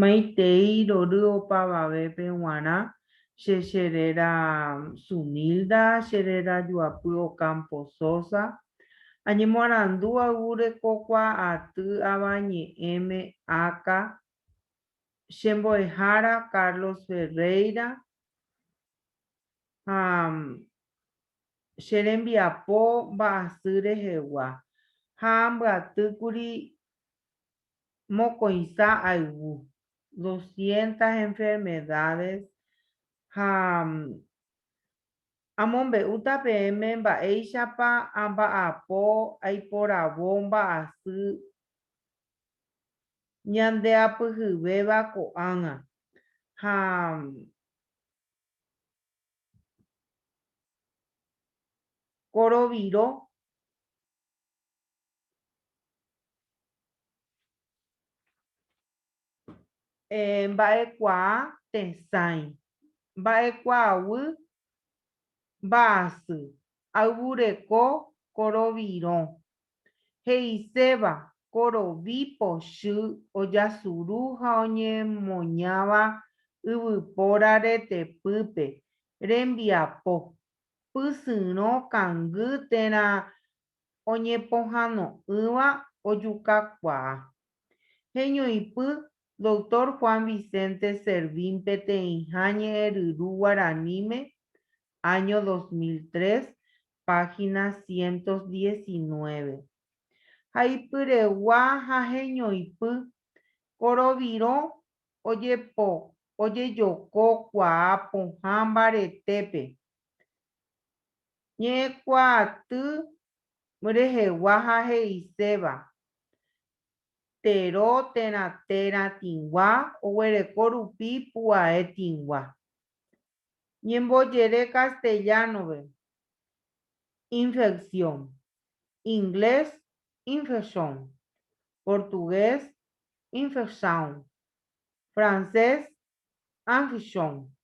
Maitei rory opavavépe g̃uarã, che che réra Sunilda, che réra Joapy Ocampo Sosa. Añemoarandu ayvúre ko kuaaty Avañe'ẽme áka, che mbo'ehára Carlos Ferreira ha che rembiapo mba'asy rehegua, ha ambyaty kuri mokõiha ayvu, doscientas enfermedades, ha amombe'úta peẽme mba'éichapa amba'apo aiporavo mba'asy ñandeapyhyvéva ko'ág̃a, ha Koroviro, mba'ekuaa tesãi, mba'ekuaaguy mba'asy, ayvureko korovirõ. he'iséva korovi pochy ojasuru ha oñemoñáva yvypóra retepýpe, rembiapo, pysyrõ kangy térã oñepohano'ỹva ojukakuaa. Heñoipy Doctor Juan Vicente Servín peteĩha ñe'ẽryru guaraníme, año dos mil tres, página ciento diecinueve. Ha ipyregua ha heñoipy, ko rovirõ ojepo ojejoko kuaa pohã mbaretépe, ñe'ẽkuaaty rehegua ha he'iséva, Tero térã térã tĩgua oguereko rupi pu'ae tĩgua. ñembojere castellano-pe, infección, inglés, infection, portugués, infection, francés, infiction.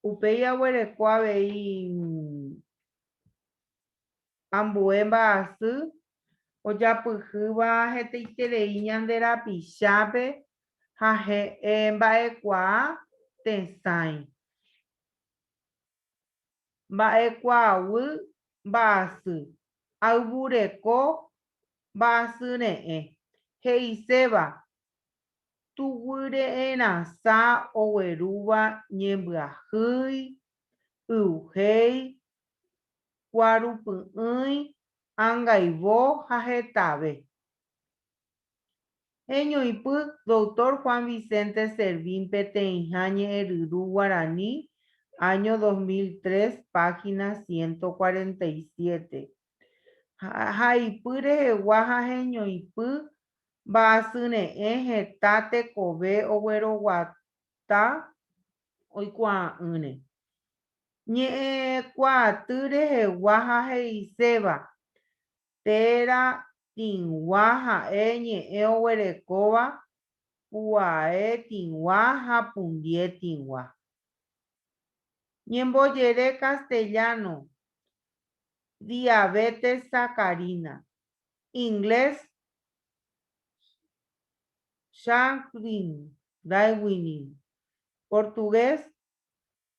Upéi aguereko avei. ambue mba'asy ojapyhýva hetaiterei ñande rapichápe ha he'ẽ mba'ekuaa tesãi. Mba'ekuaaguy mba'asy, ayvureko mba'asyre'ẽ, he'iséva tuguire'ẽrasã oguerúva ñembyahýi, yvy héi kuaru py'ỹi, angaivo ha hetave. Heñoipy Doctor Juan Vicente Servín Peteĩha Ñe'ẽryru Guarani, año dos mil tres, página ciento cuarenta y siete, Haipy rehegua ha heñoipy mba'asyre'ẽ heta tekove ogueroguata oikuaa'ỹre. ñe'ẽkuaaty rehegua ha he'iséva, Téra tĩgua ha'e ñe'ẽ oguerekóva puae tĩgua ha pundie tĩgua. Ñembojere castellano, Diabetes sacarina, inglés, Shanghai Diabetes, portugués,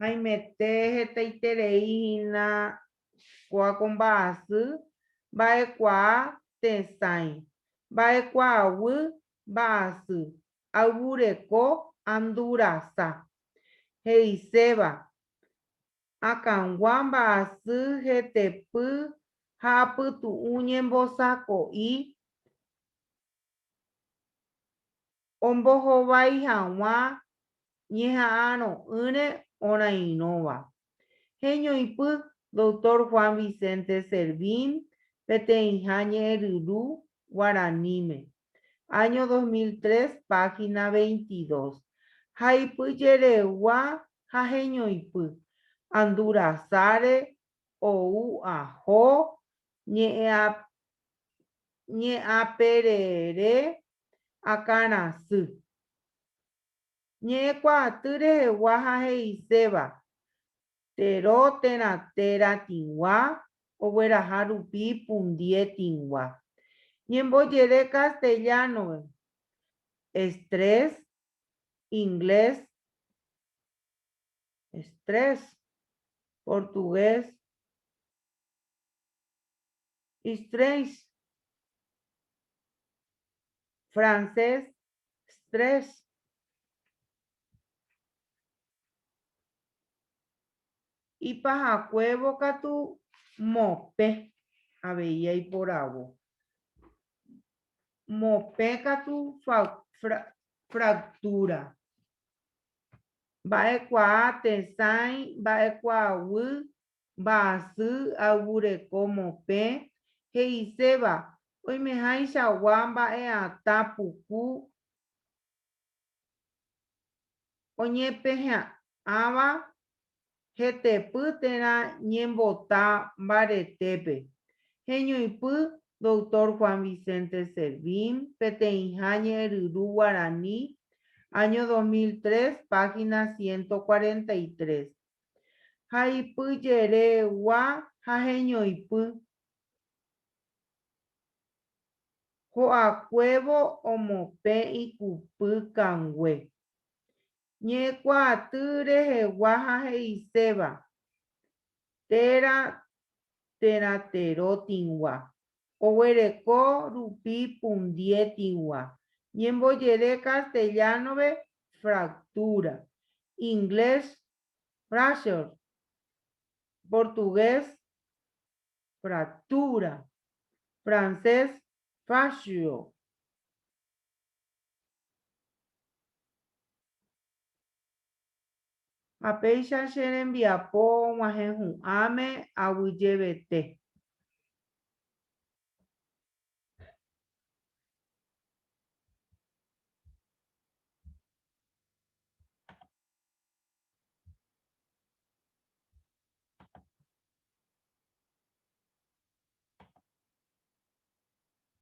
Haimete hetaiterei hína kóa ko mba'asy, mba'ekuaa, tesãi, mba'ekuaaguy, mba'asy, ayvureko, andurasa. He'iséva, akãgua mba'asy hetepy ha apytu'ũ ñembosako'i, ombohovái hag̃ua ñeha'arõ'ỹre orairõva. Heñoipy Doctor Juan Vicente Servín peteĩha ñe'ẽryru guaraníme, año dos mil tres, página veintidós, haipy jeregua ha heñoipy, Andurasáre ou aho ñe'ẽaperere akãra asy. Ñe'ẽkuaaty rehegua ha he'iséva, Tero térã téra tĩgua, ogueraha rupi pundie tĩgua. Ñembojere castellano-pe, estrés, inglés, stress, portugués, Istrés, francés, stress. Ipahakuévo katu mopẽ avei aiporavo. Mopẽ katu fractura. Mba'ekuaa tesãi, mba'ekuaaguy, Mba'asy ayvureko mopẽ he'iséva oimehaichagua mba'eatã puku oñepehẽ'ãva hetepy térã ñembota mbaretépe. Heñoipy Doctor Juan Vicente Servín, Peteĩha Ñe'ẽryru Guarani, año 2003, página ciento cuarenta y tres. ha ipy jere gua ha heñoipy. Ho'akuévo omopẽ ikupy kangue. Ñe'ẽkuaaty rehegua ha he'iséva, Téra térã tero tĩgua. Oguereko rupi pundiétigua, ñembojere castellano-pe fractura, inglés fracture, portugués fractura, francés fascio, Ha péicha che rembiapo og̃uahẽ hu'ãme aguyjevete.